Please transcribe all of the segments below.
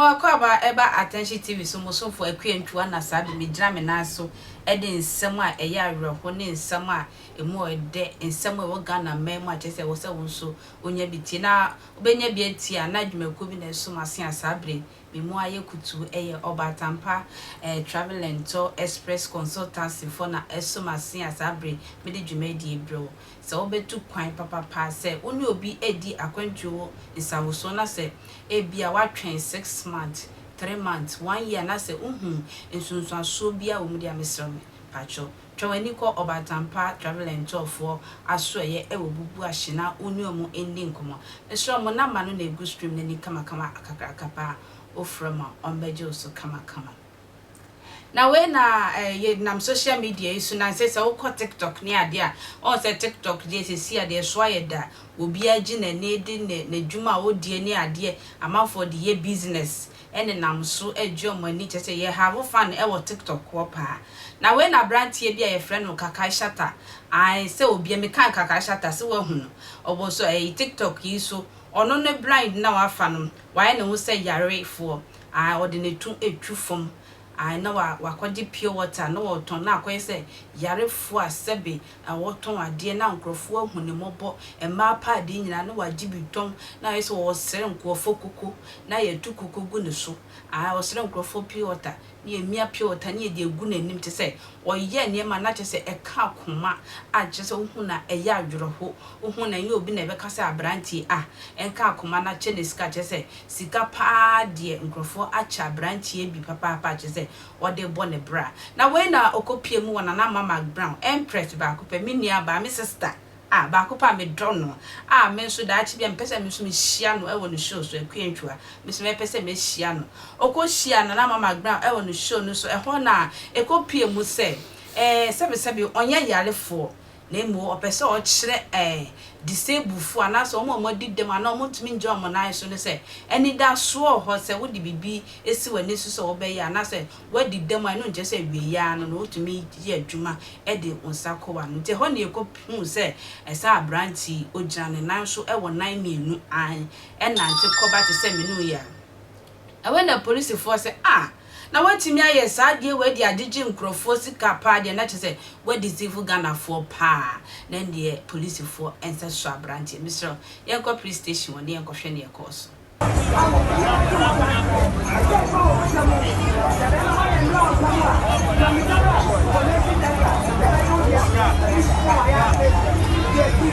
Mo akwaaba ɛba Attention TV so mo somfo Akua Ntua na saa de megyina me nan so de nsɛm a ɛyɛ awerɛho ne nsɛm a ɛmu ɔdɛ, nsɛm a ɛwɔ Ghana man mu a kyerɛ sɛ ɛwɔ sɛ wo nso wonya bi tie na wobɛnya bi atie anaa dwumakuo bi na ɛso mo ase a saa berɛ yi Me mu ayɛ kutuu ɛyɛ Ɔbaatampa eh Travelento Express Consultancy foɔ na ɛso m'asea saa bere mede dwumadie brɛ wo. Sɛ wobɛtu kwan papapa sɛ wo ne obi redi akwantuo wo nsawosoɔ na sɛ ebia woatwɛn six months, three months, one year na sɛ wohuu nsunsuansoɔ biara wɔ mu deɛ a mesrɛ wo me paatwɔ Twa w'ani kɔ Ɔbatampa Travel and Tour foɔ asoɛeɛ ɛwɔ Bubuahye na wo ne ɔmo ndi nkɔmɔ. Mesrɛ ɔmo number no na egu stream no ani kamakama kakraka paa. Wo frɛ ɔmo a, ɔmo bɛgye wo so kamakama. Na wei na eh, yɛ nam social media yi so, nansɛ sɛ wokɔ TikTok ne adeɛ a, wɔhu sɛ TikTok deɛ sɛsi a deɛ ɛso ayɛ da, obiara gye n'ani de ne n'adwuma a ɔdeɛ ne adeɛ, amanfoɔ de yɛ business. nenam so regye wɔn ani kyerɛ sɛ yɛhave fan wɔ TikTok hɔ paa. Na wei na aberanteɛ bi a yɛfrɛ no Kakai Shatta, ae sɛ obiara, mekaa Kakai Shatta sɛ woahu no, ɔwɔ so ɛyi TikTok yi so, ɔno ne blind na wafa no, wayɛ ne ho sɛ yarefoɔ, ae ɔde ne to twi fam, ae na wakɔgye pure water na ɔretɔn na akɔyɛ sɛ yarefoɔ a sɛbe a ɔtɔn adeɛ na nkorɔfoɔ ahu ne mmɔbɔ, mmaa pɛ adeɛ nyinaa na wagye bi tɔn na ayɛ sɛ ɔresere nkorɔfoɔ koko na yɛto koko gu ne so, ae, ɔsere nkorɔfoɔ pure water na yɛmia pure water na yɛde agu n'anim kyerɛ sɛ ɔyɛ nneɛma na kyerɛ sɛ ɛka akoma a kyerɛ sɛ wohu no a ɛyɛ awerɛho, wohu no a ɛnyɛ obi na ɛbɛka sɛ aberanteɛ a ɛnka akoma no akyɛ no sika kyerɛ sɛ sika pa ara deɛ nkorɔfoɔ akyɛ aberanteɛ bi papaapa kyerɛ sɛ ɔde rebɔ ne bra. Na wei na ɔkɔpue mu wɔ Nana Ama McBrown, Empress baako pɛ, me nuabaa, me sista a, baako pɛ a medɔ no a me nso daakye bi a mepɛ sɛ me nso mehyia no wɔ ne show so, Akua Antwua, me nso mɛpɛ sɛ mɛhyia no. Ɔkɔhyiaa Nana Ama McBrown wɔ ne show no so, ɛhɔ na ɛkɔpue mu sɛ, ɛɛ, sɛbesɛbe ɔnyɛ yarefoɔ, na mmom ɔpɛ sɛ ɔkyerɛ ɛɛ disablefo anaasɛ wɔn a wɔadi dɛm anaa wɔntumi ngyina wɔn nan so no sɛ anidaso wɔ hɔ. Sɛ wode biribi si w'ani so sɛ wobɛyɛ anaasɛ woadi dɛm a, ɛno nkyerɛ sɛ awiei ara no na wotumi yɛ adwuma de wo nsa kɔ w'ano. Nti ɛhɔ na yekohuu sɛ saa aberante yi, ogyina ne nan so wɔ nan mmienu ann, ɛnante kɔba te sɛ me ne wo yi a. Ɛhɔ na polisifoɔ se, Ah! Na watumi ayɛ saa adeɛ wei de agyegye nkurɔfoɔ sika paa deɛ na kyerɛ sɛ wadeceive Ghanafoɔ paa na ɛndeɛ polisifoɔ nsa sua abranteɛ mesrɛ wo yɛnkɔ police station hɔ na yɛnkɔhwɛ neɛ ɛkɔɔ so.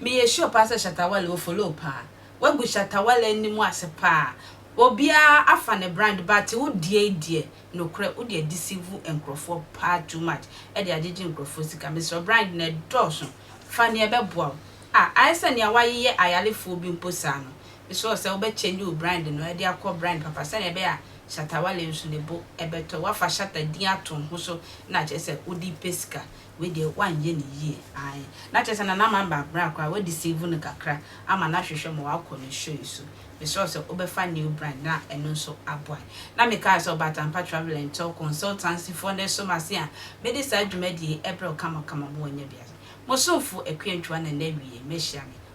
Me yɛ sure paa sɛ Shatta Wale wo follow paa. Wagu Shatta Wale anim ase paa. Obiaa afa ne brand but wo deɛi deɛ nokorɛ wo de adeceive nkorɔfoɔ paa too much de agyegye nkorɔfoɔ sika. Mesrɛ brand no ɛdɔɔso fa neɛ ɛbɛboa wo. Ah ayɛ sɛ neɛ wayeyɛ ayalefoɔ bi mpo saa no. Mesrɛ wo sɛ wo bɛ change wo brand no de akɔ brand papa sɛdeɛ ɛbɛyɛ a Shatta Wale nso ne bo bɛtɔ. Wafa Shatta din ato wo ho so na akyerɛ sɛ wode pɛ sika. wei deɛ wanyɛ no yie ae na kyerɛ sɛ na n'ama aba abra koraa wa deceive no kakra ama no ahwehwɛ ma wakɔ ne show yi so mesrɛ sɛ wobɛfa new brand na ɛno nso aboa na mekaa sɛ ɔba Atampa travel and tour consultancy foɔ na ɛso m'ase a mede saa dwumadie yi ɛbrɛ wo kama kama mo wɔ nya biase mo somfo Akua Ntua na nna awie mɛhyia me